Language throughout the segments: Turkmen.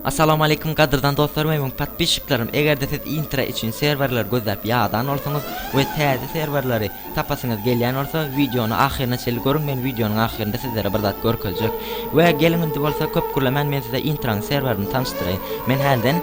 Assalamu Aleýkum gadyrdan dostlarym we müň patpisçiklerim egerde siz intra üçin serwerler gözläp ýadan bolsaňyz we täze serwerleri Tapasyňyz gelýän bolsa wideony ahyryna çenli görüň men wideonyň ahyrynda sizlere bir zat görkezjek we geliň indi bolsa köp gürlemän men size intranyň serwerini tanyşdyraýyn men hälden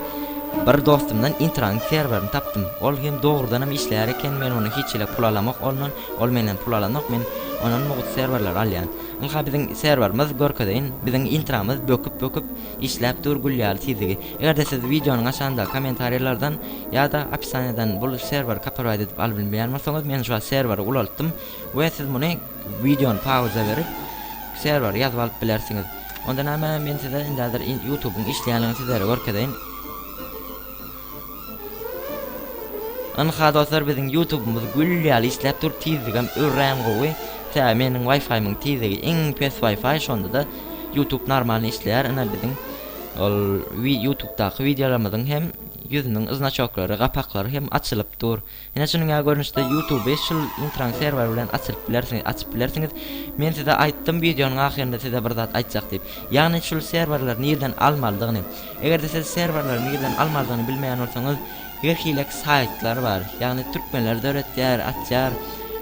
bir dostumdan intranyň serwerini tapdym ol hem dogrudanam işleýär eken men ony hiç hili pul alamok ondan ol menden pul alanok men ondan mugt serwerleri alýan ynha biziň serwerimiz görkezeýin biziň intramyz böküp böküp Işläp dur gül ýaly tizligi. Egerde siz wideonyň aşagynda komentarýalardan ýada opisaniýadan bul serwer kaporwaýt edip aly bilmeýän bolsaňyz men şu wagt serweri ulaltdym we siz muny wideony pauza berip serweri ýazyp alyp bilersiňiz. Onda näme men size indi häzir ýutubyň işleýänligini sizlere görkezeýin. Ynha dostlar biziň ýutubymyz gül ýaly işläp dur tizligem örän gowy tä meniň waýfaýymyň tizligi iň pes waýfaý şondada ýutub normalny işleýär ine biziň ol ýutubdaky wideolarymyzyň hem ýüzüniň znaçoklary gapaklary hem açylyp dur Ine şunuň ýaly görnüşde YouTube beş ýyl intran serwer bilen açylyp bilersiňiz, açyp bilersiňiz. Men size aýtdym wideonyň ahyrynda size bir zat aýtjak diýip. Ýagny şul serwerleri nirden almalydygyny. Egerde siz serwerleri nirden almalydygyny bilmeýän bolsaňyz her hilek saýtlar bar. Ýagny türkmenler döretýär, açýar.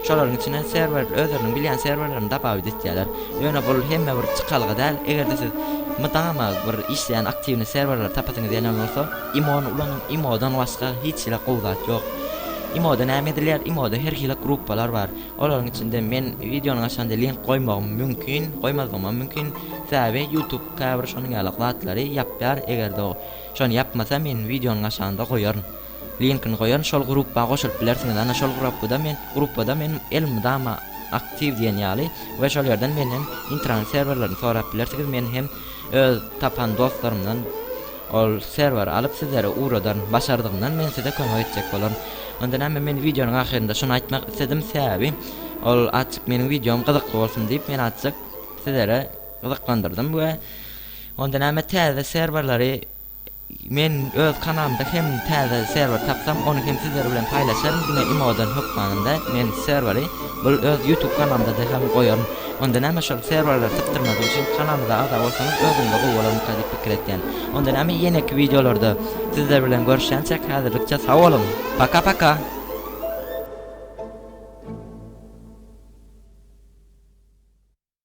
Şolaryň içinden serwer özleriniň bilýän serwerlerini dabawid etýärler. Ýöne bul hemme bir çykalga däl. Egerde siz mydama bir işleýän aktiwny serwerleri tapasyňyz gelen bolsa. Imony ulanyň imodan başga hiç hili gowy zat ýok. Imoda näme edilýär imoda her hili gruppalar bar olaryň içinde men wideonyň aşagynda link goýmagym mümkin goýmazlygymam mümkin sebäbi youtube käbir şonuň ýaly zatlary ýapýar egerde o şony ýapmasa men wideonyň aşagynda goýaryn linkini goýaryn şol gruppa goşulyp bilersiňiz ana şol gruppada men gruppada men elmydama aktiw diýen ýaly we şol ýerden menden intrany serwerlerini sorap bilersigiz men hem Öz tapan dostlarymdan ol serweri alyp sizlere ugradaryn. Başardygymdan men size kömek etjek bolaryn. Onda näme men wideonyň ahyrynda şony aýtmak isledim sebäbi ol azjyk meniň wideom gyzykly bolsun diýip men azjyk sizlere gyzyklandyrdym we onda näme täze serwerleri Men öz kanalymda hem täze serwer tapsam ony hem sizler bilen paýlaşaryn diňe imodan hökmanynda men serweri bul öz ýutub kanalymdada hem goýaryn onda näme şol serwerleri sypdyrmadyk üçin kanalymyza agza bolsaňyz özümde gowy bolarmyka diýip pikir etýän onda näme ýeneki wideolarda sizler bilen görüşýänçäk häzirlikçe sag boluň paka paka.